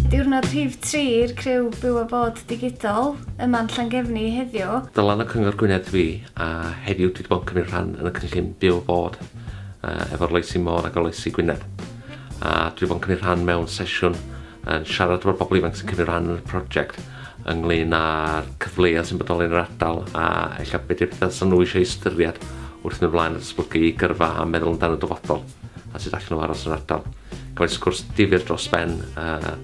Diwrnod rhif 3 i'r criw byw a bod digidol yma'n Llangefni heddiw. Dylan o Cyngor Gwynedd fi a heddiw dwi wedi bod yn cymryd rhan yn y cynllun byw a bod uh, efo'r Loesi Môr a Goloesi Gwynedd. A dwi wedi bod yn cymryd rhan mewn sesiwn yn siarad efo'r bobl ifanc sy'n cymryd rhan yn y prosiect ynglyn â'r cyfleoedd sy'n bodoli yn yr ardal a ella beth yw'r pethau sy'n nhw eisiau ystyried wrth mynd flaen at esblygu gyrfa a meddwl amdano dyfodol a sut allan nhw aros yn yr ardal. Cafodd sgwrs difyr dros ben uh,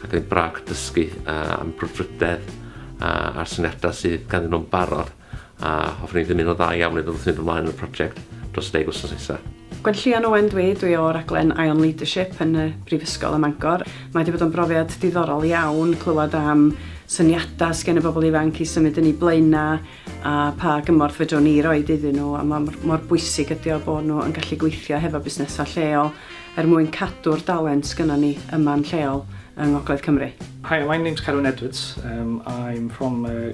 ac yn braf dysgu uh, am brwdfrydedd uh, a'r syniadau sydd ganddyn nhw'n barod a hoffwn i ddymuno dda iawn iddo wrth fynd ymlaen yn y prosiect dros y deg wythnos nesaf. Gwenllian Owen dw i, dw i o raglen Ion Leadership yn y Brifysgol ym Mangor. Mae wedi bod yn brofiad diddorol iawn clywed am syniadau sgen y bobl ifanc i symud yn eu blaenau a pa gymorth fedrwn ni roed iddyn nhw a mor, mor bwysig ydy o bod nhw yn gallu gweithio hefo busnesau lleol er mwyn cadw'r dalent sgynnon ni yma'n lleol yng Ngogledd Cymru. Hi, my name's Carwyn Edwards. Um, I'm from uh,